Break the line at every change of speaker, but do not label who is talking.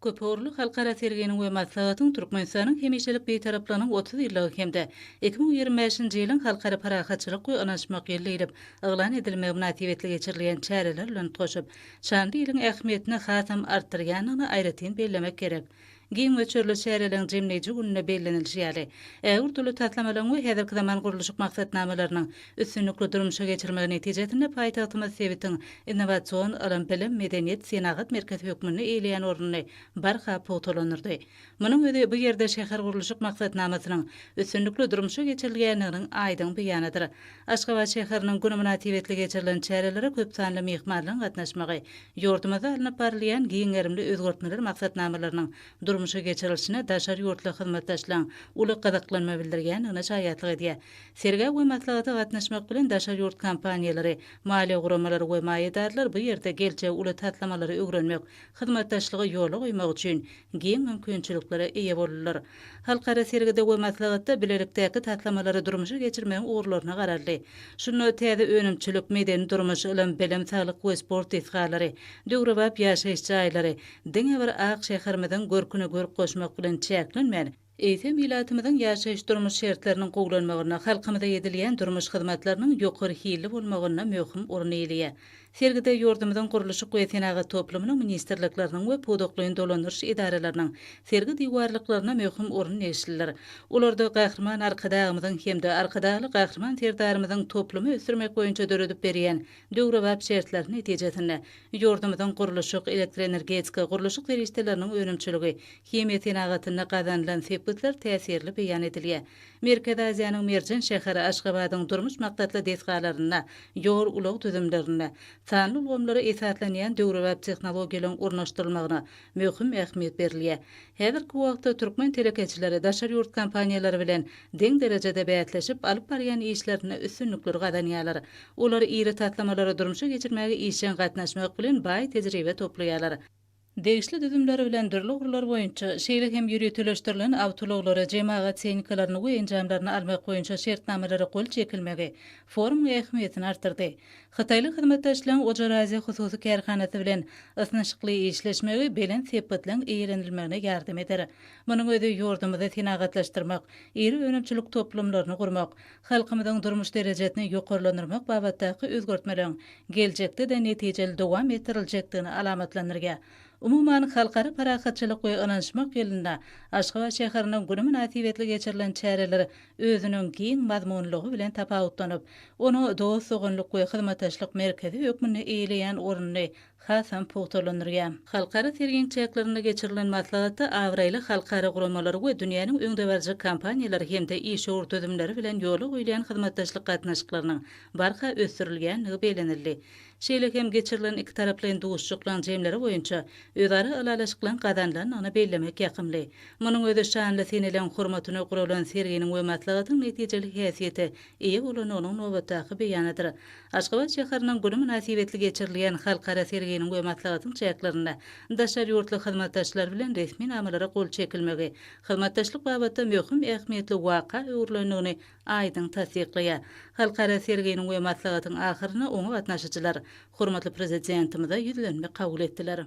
Köpugurly halkara serginiň we maslahatyň Türkmenistanyň hemişelik Bitaraplygynyň otuz ýyllygy hem-de iki müň ýigrimi bäşinji ýylyň Halkara parahatçylyk we ynanyşmak ýyly diýlip yglan edilmegi mynasybetli geçirilýän çäreler bilen utgaşyp, şanly ýylyň ähmiýetini hasam artdyrýandygyny aýratyn bellemek gerek. Giň möçberli çäreleriň jemleýji gününde bellenilişi ýaly, ägirt uly taslamalaryň we häzirki zaman gurluşyk maksatnamalarynyň, üstünlikli durmuşa geçirmegi netijesinde paýtagtymyz sebitiň innowasion, ylym-bilim, medeniýet, senagat merkezi hökmünde eýeleýän ornuny barha pugtalandyrdy. Munuň özi bu ýerde şähergurluşyk maksatnamasynyň üstünlikli durmuşa geçirilýändiginiň aýdyň beýanydyr. Aşgabat şäheriniň güni mynasybetli geçirilen çärelere köp sanly myhmanlaryň gatnaşmagy ýurdumyzda alnyp barylýan giň gerimli özgertmeler maksatnamalarynyň durmuşa geçirilişine daşary ýurtly hyzmatdaşlaryň uly gyzyklanma bildirýändigine şaýatlyk edýär. Sergä we maslahata gatnaşmak bilen daşary ýurt kompaniýalary, maliýe guramalary we maýadarlar bu ýerde geljegi uly taslamalary öwrenmek, hyzmatdaşlygy ýola goýmak üçin giň mümkinçiliklere eýe boldular. Halkara sergide we maslahatda bilelikdäki taslamalary durmuşa geçirmegiň ugurlaryna garaldy. Şunda täze önümçilik, medeni-durmuş, ylym-bilim, saglyk we sport desgalary, döwrebap ýaşaýyş jaýlary diňe bir ak şäherimiziň görküne görk goşmak bilen çäklenmän, eýsem, ilatymyzyň ýaşaýyş-durmuş şertleriniň gowulanmagynda, halkymyza edilýän durmuş hyzmatlarynyň ýokary hilli bolmagynda möhüm orun eýeleýär. Sergide ýurdumyzyň gurluşyk we senagat toplumynyň ministrlikleriniň we pudaklaýyn dolandyryş edaralarynyň sergi diwarlyklaryna möhüm orun degişlidir. Olarda Gahryman Arkadagymyzyň hem-de Arkadagly Gahryman Serdarymyzyň toplumy ösdürmek boýunça döredip berýän döwrebap şertler netijesinde, ýurdumyzyň gurluşyk, elektroenergetika, gurluşyk serişdeleriniň önümçiligi, Himiýa senagatynda gazanylan sepgitler täsirli beýan edilýär. Merkezi Aziýanyň merjen şäheri Aşgabadyň durmuş maksatly desgalarynda, ýol-ulag düzümlerinde, sanly ulgamlara esaslanýan döwrebap tehnologiýalaryň ornaşdyrylmagyna möhüm ähmiýet berilýär. Häzirki wagtda türkmen telekeçileri daşary ýurt kompaniýalary bilen deň derejede bäsleşip, alyp barýan işlerinde üstünlikleri gazanýarlar. Olar iri taslamalary durmuşa geçirmäge işjeň gatnaşmak bilen baý tejribe toplaýarlar. Degişli düzümleri bilen dürli ugurlar boýunça, şeýle hem ýöriteleşdirilen awtoulaglary, jemagat tehnikalaryny we enjamlaryny almak boýunça şertnamalara gol çekilmegi forumyň ähmiýetini artdyrdy. Hytaýly hyzmatdaşlaryň Ojar-Aziýa hususy kärhanasy bilen ysnyşykly işleşmegi belent sepgitligiň eýelenilmegine ýardam eder. Munuň özi ýurdumyzy senagatlaşdyrmak, iri önümçilik toplumlaryny gurmak, Halkymyzyň durmuş derejesini ýokarlandyrmak babatdaky özgertmeleriň geljekde-de netijeli dowam etdiriljekdigini alamatlandyrýar. Umuman, Halkara parahatçylyk we ynanyşmak ýylynda Aşgabat şäheriniň güni mynasybetli geçirilen çäreler özüniň giň mazmunlygy bilen tapawutlanyp, onuň dost-doganlyk we hyzmatdaşlyk merkezi hökmünde eýeleýän ornuny hasam pugtalandyrýar. Halkara serginiň çäklerinde geçirilen maslahatda abraýly halkara guramalary we dünýäniň öňdebaryjy kompaniýalary hem-de işewür düzümleri bilen ýola goýulýan hyzmatdaşlyk gatnaşyklarynyň barha ösdürilýändigi bellenildi. Şeýle hem geçirilen ikitaraplaýyn duşuşyklaryň jemleri boýunça özara ylalaşyklaryň gazanylandygyny bellemek ýakymly. Munuň özi şanly seneleň hormatyna guralan serginiň we maslahatyň netijeli häsiýete eýe bolandygynyň nobatdaky beýanydyr. Aşgabat şäheriniň güni mynasybetli geçirilýän halkara serginiň we maslahatyň çäklerinde daşary ýurtly hyzmatdaşlar bilen resminamalara gol çekilmegi hyzmatdaşlyk babatda möhüm ähmiýetli waka öwrülendigini aýdyň tassyklaýar. Halkara serginiň we maslahatyň ahyrynda oňa gatnaşyjylar hormatly Prezidentimize ýüzlenme kabul etdiler.